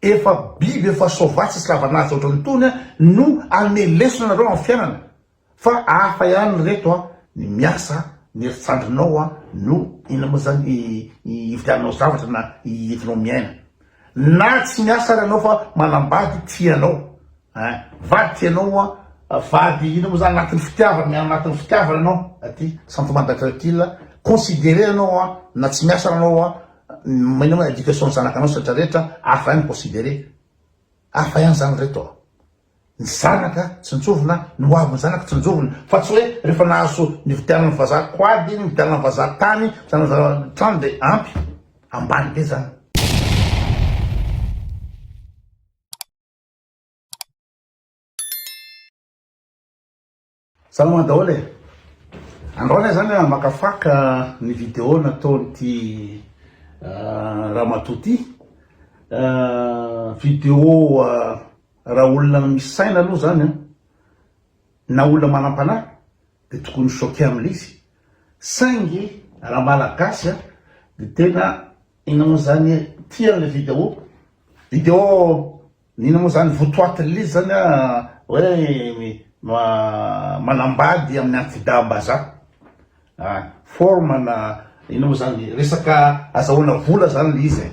Efa biby efa soavaly tsisy lavan'asa otran'itony a no anome lesona anareo amin'ny fiainana fa hafa ihany ry reto a ny miasa a ny heritrandrinao a no inona moa zany ividiananao zavatra na entinao miaina na tsy miasa ary ianao fa manambady tia anao Hein vadiko ianao an! vady inona moa zany anatin'ny fitiavana miaina anatin'ny fitiavana ianao aty sentiment d'agriculture considerer ianao an na tsy miasa ary ianao an inona moa education ny zanakanao sy rehetra rehetra hafa ihany considerer hafa ihany zany reto an ny zanaka tsinjovina ny ho avin'ny zanaka tsinjovina fa tsy hoe rehefa nahazo nividianan'ny vazaha quad nividianan'ny vazaha tany vidianan'ny vazaha trano dia ampy ambany be zany Salama daholo e! Andao anie zany hamakafaka ny video nataon'ity ramatoa ity, video raha olona misy saina aloha zany an, na olona manam-panahy dia tokony ho choqué amin'ilay izy, saingy raha malagasy dia tena. Inona moa zany ity an le video? Video inona moa zany votoaty liz zany a hoe manambady amin'ny antidahambazaha a forme na inona moa zany resaka azahoana vola zany le izy e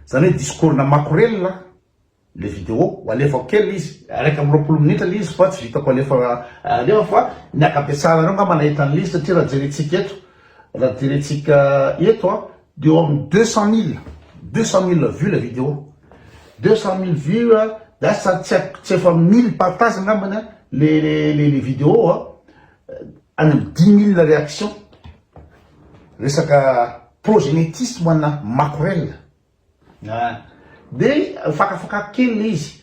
zany hoe discours na makorelina. le vidéo ho alefako kely izy iraika amby roapolo minitra le izy fa tsy vitako alefa alefa fa ny ankabetsahanareo ngamba nahita an'le izy satria raha jerentsika eto raha jerentsika eto a de eo amin'ny deux cent mille deux cent mille vues le vidéo deux cent mille vues a lasa tsy haiko tsy efa mille partage ngambany a le le le vidéo a any amin'ny dix mille réaction resaka prosélytisme ana makorel Dia fakafakako kely ilay izy.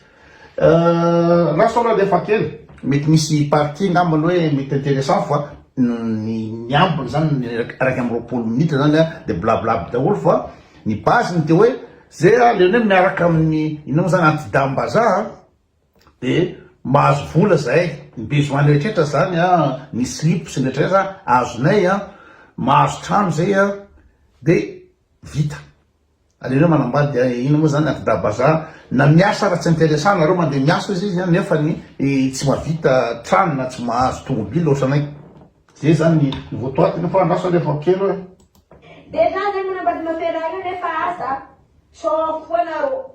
Last aloha dia faty kely. Mety misy partie angambany hoe mety intéressant fa ny ambiny izany ny iraika amby roapolo minitra izany dia blablabla daholo fa ny base-ny dia hoe izay aleonay miaraka amin'ny inona moa izany anti-dam-bazaha. de mahazo vola zahay ny besoin rehetra zany a ny slip sy ny rehetra rehetra azonay a mahazo trano zay a de vita alereo manambady de ino moa zany akda bazaha na miasa raha tsy interesa anareo mande miasa izy izy a nefa ny tsy mavita trano na tsy mahazo tomobily otranay zay zany ny votoatiny nefa andraso anie efa kely oe. Dejà zay manambady mamperaha io nefa aza tsôha foana rô.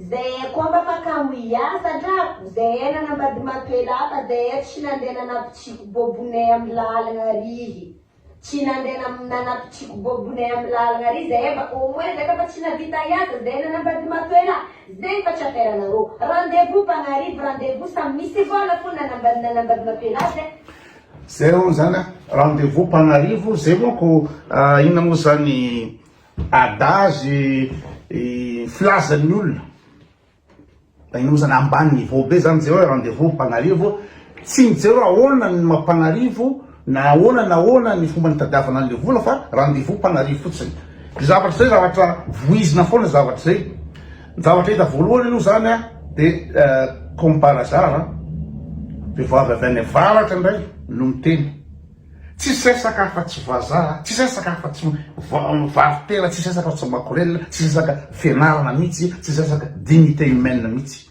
Zay eh koa mba maka ho hiasa drako Zay eh nanambadimato elaka Zay eh tsy nandeha nanapitsiako bobone am lalagna ary izy Tsy nandeha nam nanapitsiako bobone am lalagna ary izy Zay eh mba au moins zay ka fa tsy navita hiasa Zay eh nanambadimato ela Zay fa tsy affaire anarô Rendez-vous mpagnarivo Rendez-vous samy misy vôla fô nanambady nanambadimato ela Zay Zay hono zany a Rendez-vous mpagnarivo Zay manko inona moa zany Adage filazan'ny olona Tagnozana ambany niveau be zany jereo rendez vous Antananarivo tsy mijereo ahoana ny maha Antananarivo na ahoana na ahoana ny fomba nitadiavana anle vola fa rendez vous Antananarivo fotsiny de zavatra zay zavatra vohizina foana zavatra zay ny zavatra hita voalohany aloha zany a de comme par hasard vehivavy avy any avaratra indray no miteny Tsisy resaka afa-tsy vazaha, tsisy resaka afa-tsy mivaro-tena, tsisy resaka afa-tsy makorelina, tsisy resaka fianarana mihitsy, tsisy resaka dignité humaine mihitsy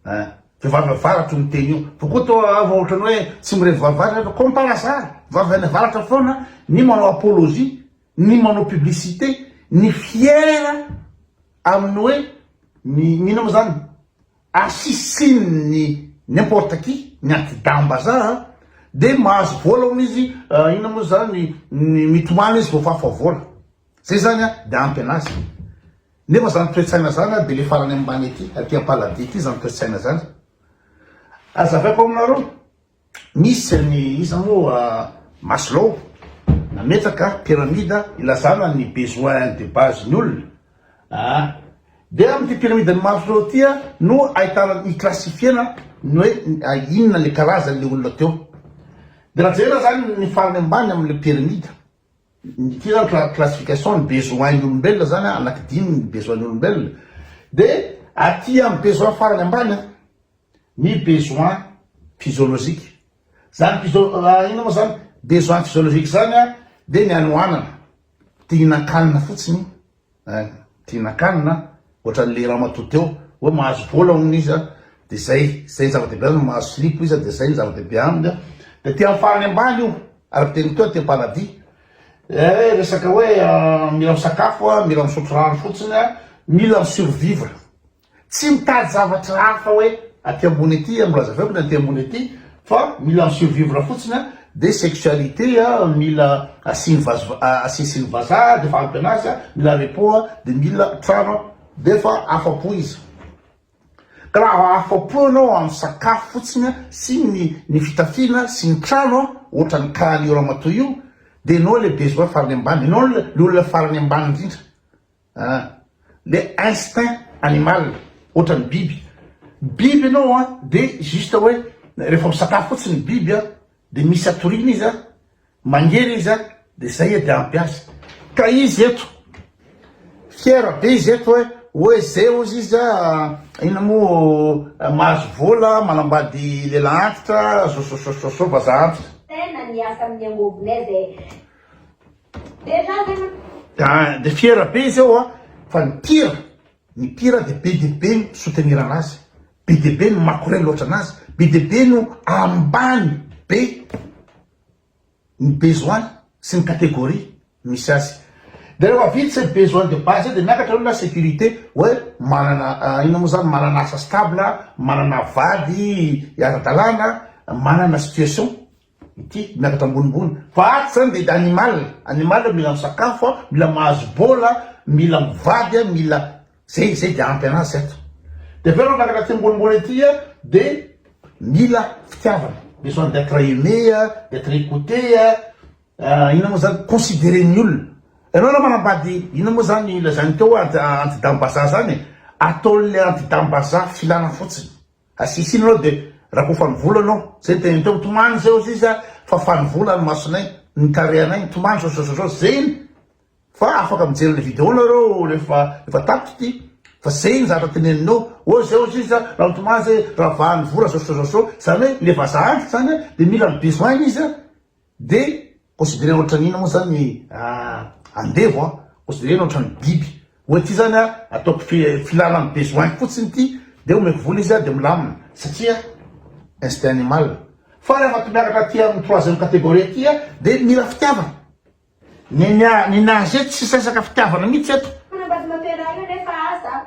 eh! Vehivavy avaratra no miteny io, vao koa toa vao ohatran'ny hoe tsy mirevy vavy varatra ianareo, comme par hasard, vavy any avaratra foana ny manao apologie, ny manao publicité, ny fiera amin'ny hoe, ny inona moa izany, Asisin'ny n'importe qui, ny anti-daham-bazaha, dia mahazo vola hono izy, inona moa izany, ny mitomany izy vao fafa vola. Izay izany dia ampy anazy. Nefa izany toe-tsaina izany dia ilay farany ambany aty, aty am-paladia aty izany toe-tsaina izany. Hazavaiko aminareo. Nisy ny iza moa Maslow nametraka pyramide ilazana ny besoin de base ny olona aa dia amin'ity pyramide ny Maslow ity no ahitana ny classifiena ny hoe inona le karazany le olona teo dia raha jerena zany ny farany ambany amin'ilay pyramide ity zany ny classification ny besoin ny olombelona zany anaky dimy ny besoin ny olombelona dia aty amin'ny besoin farany ambany ny besoin physiologique zany physio inona moa zany besoin physiologique zany a de ny hanohanana te hihinan-kanina fotsiny eh, te hihinan-kanina ohatran'le ramatoa teo hoe mahazo vola hono izy a de zay zay ny zava-dehibe aminy mahazo silipo izy a de zay ny zava-dehibe aminy a de te hamparany ambany io araka teny teo te paradis eh resaka hoe ah, mila misakafo a mila misotro rano fotsiny a mila misurvivre Tsy mitady zavatra hafa hoe aty ambony aty a, mbola azavao aty ambony aty fa mila mi survivre fotsiny a, dia sexualité a mila asiny vazo asesiny vazaha dia efa ampy anazy a, mila repos a, dia mila trano a, dia efa afapo izy. Ka raha afapo ianao amin'ny sakafo fotsiny a sy ny ny fitafiana sy ny trano a, ohatran'ny cas an'io ramatoa io, dia ianao ilay besoin farany ambany, ianao le olona farany ambany indrindra. Ah! Le instinct animal, ohatran'ny biby. Biby ianao an, de juste hoe rehefa misakafo fotsiny ny biby an, de misy atoriana izy an, mangery izy an, de zay edy ampy azy. Ka izy eto, fiera be izy eto hoe, hoe ze ozy izy an, inona moa mahazo vola, manambady lehilahy antitra, sososososo vazaha antitra. Tena niasa amin'ny angovo-nay zay. Da, de fiera be izy eo an, fa ny mpira, ny mpira de be dia be ny soutenir anazy, be dia be no makorel ohatra anazy, be dia be no ambany be ny besoin-ny sy ny catégorie misy azy. De rehefa vita izay besoin de base zay de miakatra aloha la sécurité hoe manana inona moa zany, manana asa stable, manana vady ara-dalàna, manana situation. Ity miakatra ambonimbony. Vahady zany dia animal, animal mila misakafo, mila mahazo bola, mila mivady, mila zay, zay dia ampy anazy zay. Dia avy eo raha miakatra aty ambonimbony aty dia mila fitiavana, besoin d'etre aime, d'etre ecoute, inona moa zany, considerer ny olona. Ianao raha manambady inona moa zany lazainy teo hoe anti-dame-bazaha zany e, ataon'ilay anti-dame-bazaha filana fotsiny. Asisiny anao de rakoa fanivola anao, zay ny teniny teo, mitomany zay ozy izy a, fa fanivola ny masonay, ny tarehanay, mitomany zao zao zao zao, zay ny fa afaka mijery le video nareo refa efa tapitra ty, fa zay ny zavatra teneniny eo, ozy zay ozy izy a, raha mitomany zay, raha vanivola zao zao zao zao, zany hoe le vazaha antitra zany a, de mila ny besoin-ny izy a, De considerena otrany inona moa zany ny andevo an? Considerena otrany biby. Oe ty zany an ataoko filana ny besoin-ko fotsiny ty de omeko vola izy an de milamina satria instinct animal. Fa raha efa miakatra aty amin'ny troisième catégorie aty an de mila fitiavana. Ny ny nager tsisy resaka fitiavana mihitsy eto. Tena mba tianao tena io nefa aza an.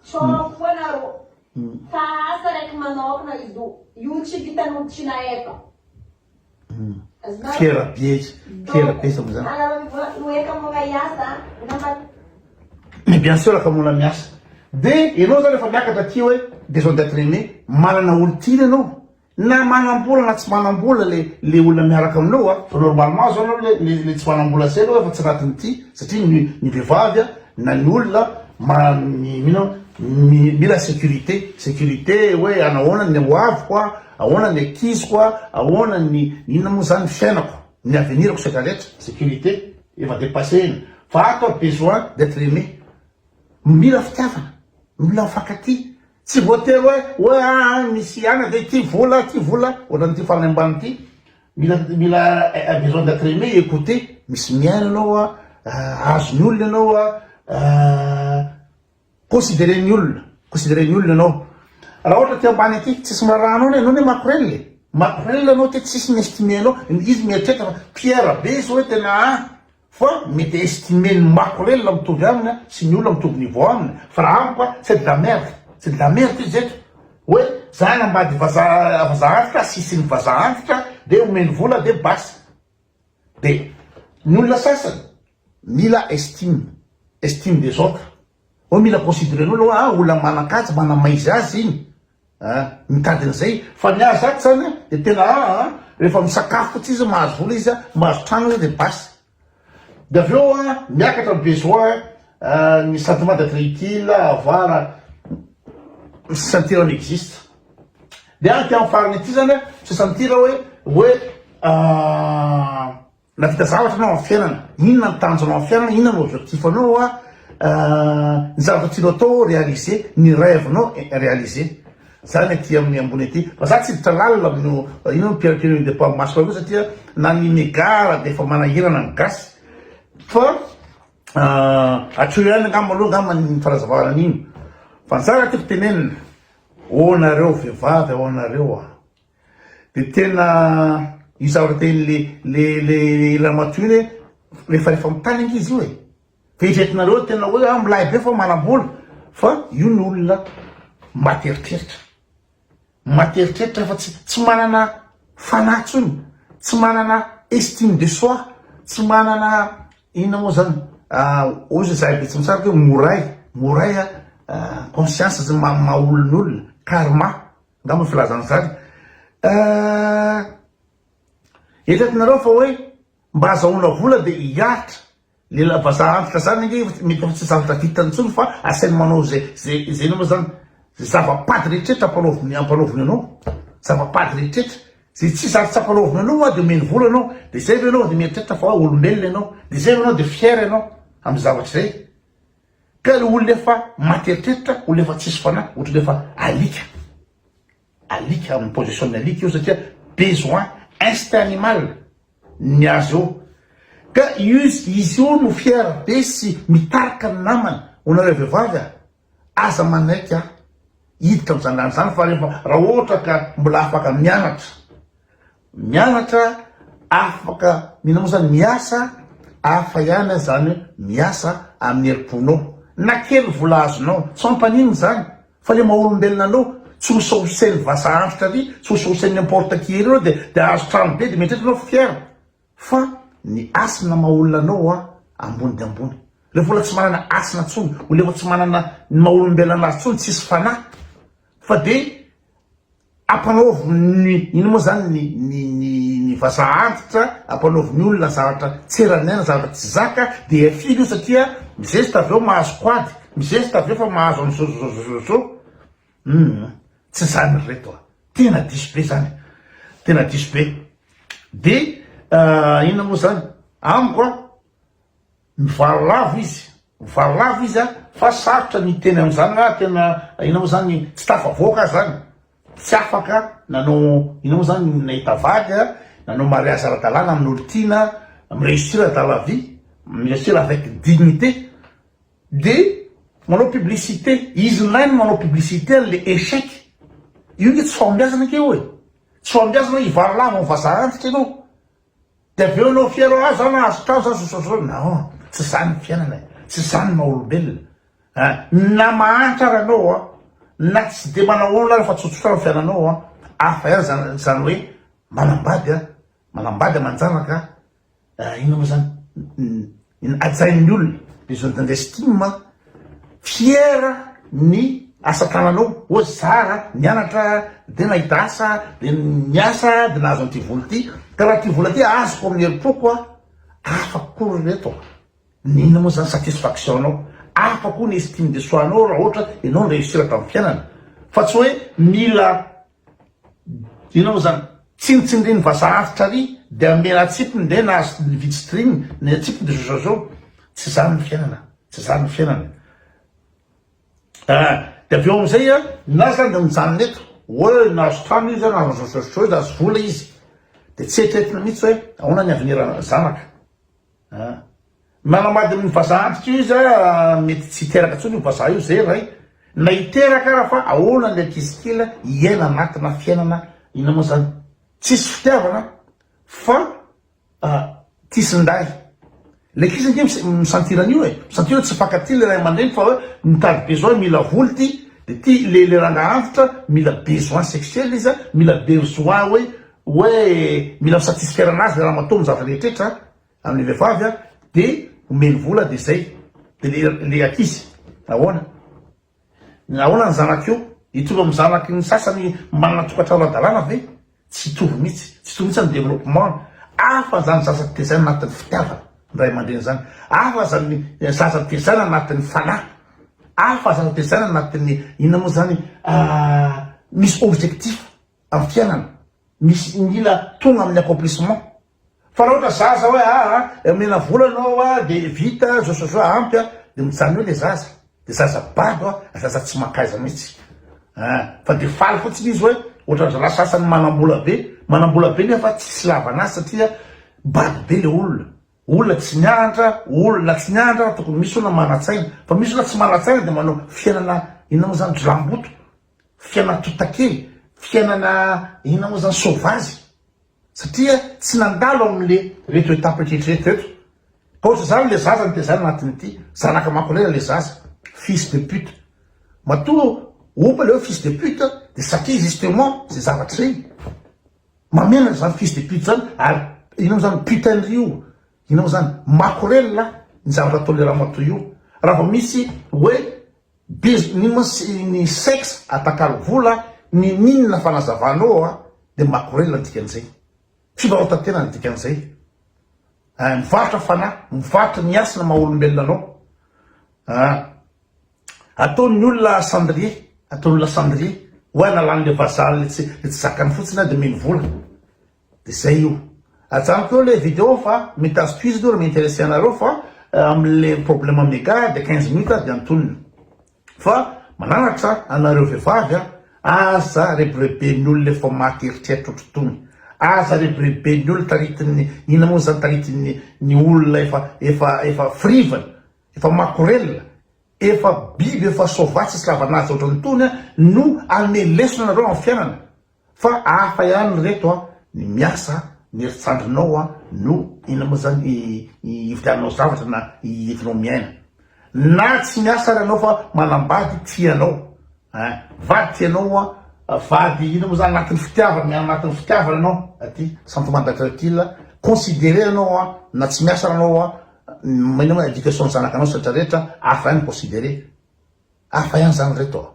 Tsôha foa narô. Fa asa raiky manôkana izy io. Io tsy vitan'olo tsy nahefa. Fiera betsy, fiera betsy amin zany. Mais bien sûr ka mbola miasa. De enao zany efa miakatra aty oe besoin d'etre aime, manana olo tiana enao, na manambola na tsy manambola le le olona miaraka aminao a, fa normalement zao enao le le tsy manambola zay enao efa tsy anatiny ty, satria ny ny vehivavy a na ny olona ma mi mino mi mila securite, securite oe anahoana ny ho aviko a. Ahoana ny ankiziko a, ahoana ny inona moa zany ny fiainako, ny avenirako setra retra, securite efa depasse iny fa ato aho besoin d'etre aime, mila fitiavana, mila mifankatia, tsy voatery hoe hoe aa misy ihany ve ity vola ity vola ohatran'ity farany ambany ity, mila mila besoin d'etre aime, écouter, misy miaina ianao a, azon'ny olona ianao a, Considerer ny olona, considerer ny olona ianao. Raha ohatra aty ambany aty, tsisy miraharaha anao ny anao ne makorel e! Makorel anao aty tsisy mi-estimer anao, izy mieritreritra fa Pierre be izao hoe tena a! fa mety estimer ny makorel mitovy aminy a! sy ny olona mitovy niveau aminy, fa raha amiko a! c'est de la merde, c'est de la merde izy eto, hoe za hanambady vazaha vazaha antitra, asisin'ny vazaha antitra, dia omeny vola dia basta. Be. Ny olona sasany mila estime, estime des autres. Hoe mila consideren'olona hoe ah olona manan-kaja, manamaizy azy iny ah, mitady an'izay. Fa ny ahy zato izany an, dia tena ah an, rehefa misakafo fotsiny izy, mahazo vola izy an, mahazo trano izy an, dia basta. Dia avy eo an, miakatra ny besoin, ah, ny sentiment d'etre utile, avoir, ny sentir on existe. Dia aty amin'ny farany aty zany a, sesantira hoe, hoe nahavita zavatra anao amin'ny fiainana, inona ny tanjonao amin'ny fiainana, inona no objectif anao a, ny zavatra tianao atao réaliser, ny rêve nao réaliser, zany aty amin'ny ambony aty, fa za tsy hiditra lalina amin'io ino ny Pierre Kely de Paoly Masoala io satria na ny Megara dia efa manahirana ny gasy fa Ah atsoro ihany angamba aloha angamba ny fanazavana an'iny fa ny zara tiako tenenina oh nareo vehivavy oh nareo ah de tena io zavatra teny le le le ramatoa iny hoe rehefa rehefa mitany anga izy io e fa eritreretinareo tena hoe ah milay be fa manam-bola fa io ny olona mba ateritreritra Maty eritreritra fa tsy tsy manana fanahy intsony, tsy manana estime de soi, tsy manana inona moa zany hoy zay zahay betsy mitsara hoe moray, moray a conscience zay maha maha olona olona, karma angamba filazana zany eto atinareo fa hoe mba azahoana vola de hiaritra Lehilahy vazaha antitra zany ange efa mety efa tsy zavatra vitany intsony fa asainy manao ze ze ze inona moa zany ze zava-pady rehetrretra ampanaoviny ampanaoviny anao zava-pady rehetrretra ze tsisy ary tsy ampanaoviny anao hoa de omeny vola anao de zay ve ianao de mieritreritra fa olombelona ianao de zay ve ianao de fier ianao amin'ny zavatra izay ka le olona efa maty eritreritra olona efa tsisy fanahy ohatrany efa alika alika amin'ny position-n'ny alika io satria besoin instinct animal ny azy eo ka izy io no fiera be sy mitarika ny namany ho nareo vehivavy a! aza manaiky a! hiditra amin'izany rano izany fa rehefa raha ohatra ka mbola afaka mianatra mianatra afaka mino moa izany miasa hafa ihany aza izany miasa amin'ny herim-ponao na kely vola azonao tsy mampanino izany Fa le maha olombelona anao tsy ho saosen'ny vazaha antitra ary tsy ho saosen'ny importe qui ery anao de de ahazo trano be de mieritreritra anao fier fa ny hasina maha olona anao hoa ambony de ambony refa olona tsy manana hasina tsony olona efa tsy manana ny maha olombelona anazy tsony tsisy fanahy fa de Ampanaovy ny inona moa izany ny ny ny ny vazaha antitra, ampanaovy ny olona zavatra tsy eran'ny aina, zavatra tsy zaka dia afily io satria mizesta avy eo mahazo quad, mizesta avy eo fa mahazo an'i zôzôzôzôzô, hum tsy izany ry reto a! tena diso be izany, tena diso be, dia inona moa izany amiko a! Mivaly lava izy, mivaly lava izy a, fa sarotra ny hiteny an'izany raha tena inona moa izany tsy tafavoaka aho izany, tsy afaka nanao inona moa izany nahita vady a, nanao mariazy ara-dalàna amin'olon-tiana, mi-réussir dans la vie, mi-réussir avec dignité, dia manao publicité, izy indray no manao publicité an'ilay échec, io nge tsy fahombiazana nge io e, tsy fahombiazana hoe hivaly lava amin'ny vazaha antitra ianao, Dia avy eo anao fier ah za nahazo trano za sosososona non tsy zany ny fiainana e tsy zany ny maha olombelona a na mahantra ary anao a na tsy de manao olona ary fa tsotsotra ny fiainanao a hafa ihany zany zany hoe manambady a manambady amanjanaka a inona moa zany Hajain'ny olona le zone d'investime, fiera ny asa tananao, oa zara nianatra de nahita asa de niasa de nahazo an'ity vola ity, ka raha ity vola ty azoko amin'ny herim-poko a, hafa kokoa ry reto a, n'inona moa zany satisfaction anao, hafa koa ny estime de soi anao raha ohatra enao ni-reussir tamin'ny fiainana, fa tsy hoe mila Inona zany? Tsinontsindrin'ny vazaha avotra ary dia hamela atsipiny dia nahazo ny vitsy driny ny atsipiny dia zozozo. Tsy zany ny fiainana, tsy zany ny fiainana. Ah, dia avy eo amin'izay ah, na zany dia mijanona eto. Oe nahazo trano izy, nahazo zozozo, nahazo vola izy. Dia tsy eritreretina mihitsy hoe ahoana ny avenir-n'ny zanaka. Nanambady ny vazaha antitra io izy mety tsy hiteraka intsony io vazaha io zay ray na hiteraka ara fa ahoana le ankizy kely hiaina anatina fiainana inona moa zany tsisy fitiavana fa tisindahy le ankizy ange mi sentir an'io e mi sentir hoe tsy mifankatia le ray aman-dreny fa hoe mitady besoin mila vola ty de ty le le rangahy antitra mila besoin sexuel izy mila besoin hoe hoe mila misatisfaire anazy le ramatoa amin'ny zavatra rehetretra amin'ny vehivavy a de omeny vola de zay de le le ankizy ahoana ny ahoana ny zanak'io hitovy amin'ny zanaky ny sasany manana tokantrano adalàna ve tsy hitovy mihitsy tsy hitovy mihitsy ny développement hafa zany zaza tezaina anatin'ny fitiavana ny ray aman-dreny zany hafa zany zaza tezaina anatin'ny fanahy hafa zaza tezaina anatin'ny inona moa zany misy objectif am fiainana misy mila tonga amin'ny accomplissement fa raha ohatra zaza hoe aa omena vola anao a de vita zao sy zao ampy a de mijanona eo le zaza de zaza bado a zaza tsy mankaiza mihitsy a fa de faly fotsiny izy hoe ohatra zalahy sasany manambola be manambola be nefa tsisy ilavana azy satria bado be le olona olona tsy mianatra olona tsy mianatra tokony misy olona manatsaina fa misy olona tsy manatsaina de manao fiainana inona moa zany jiramboto Fiainana totakely, fiainana inona moa zany, soavazy, satria tsy nandalo amin'le reto étape rehetra reto reto, ka ohatr'izany le zaza nitezana anatin'ity, zanaka makonera le zaza, fils de pute, matoa ompa le hoe fils de pute de satria justement ze zavatra zay, mamela an'zany fils de pute zany, ary inona moa zany, putain-dry io, Inona zany? Makorelina ny zavatra ataon'le ramatoa io. Raha vao misy hoe biz n'ino ma ny sex atakalo vola n'in'inona fanazavana eo a de makorelina ny dikan'izay. Fivarotantena ny dikan'izay. A mivarotra fanahy, mivarotra ny hasina maha olombelona anao. A ataon'ny olona cendrier, ataon'olona cendrier. Oay nalan'le vazaha le tsy le tsy zakany fotsiny a de mino vola. De zay io. Ajanoko eo le video fa mitady tohizo aloha raha mi-interesser anareo fa amle problème mega de quinze minutes ary de antonina. Fa mananatra anareo vehivavy a, aza rebireben'ny olona efa maty eritreritra ohatry tony, aza rebireben'ny olona taritin'ny inona moa zany taritin'ny ny olona efa efa efa frivana, efa makorelina, efa biby efa soavaly tsisy lavanaja ohatran'ny tony a no hanome lesona anareo amin'ny fiainana. Fa hafa ihany reto a, ny miasa, ny herintsandrinao a, no inona moa zany i ividiananao zavatra na i entinao miaina. Na tsy miasa ary anao fa manambady tia anao a, vady tia anao a, vady inona moa zany anatin'ny fitiavana, miaina anatin'ny fitiavana ianao aty sentiment d'etre utile a, considerer anao a, na tsy miasa ary anao a, inona moa education ny zanakanao sy retraretra, hafa ihany ny considerer. Hafa ihany zany reto a.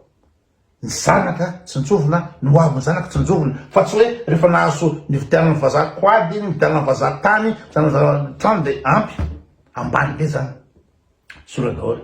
Ny zanaka tsinjovina no ho avin'ny zanaka tsinjovina fa tsy hoe rehefa nahazo nividianan'ny vazaha quad iny, nividianan'ny vazaha tany, nividianan'ny vazaha trano dia ampy. Ambany be izany. Sorena daholo.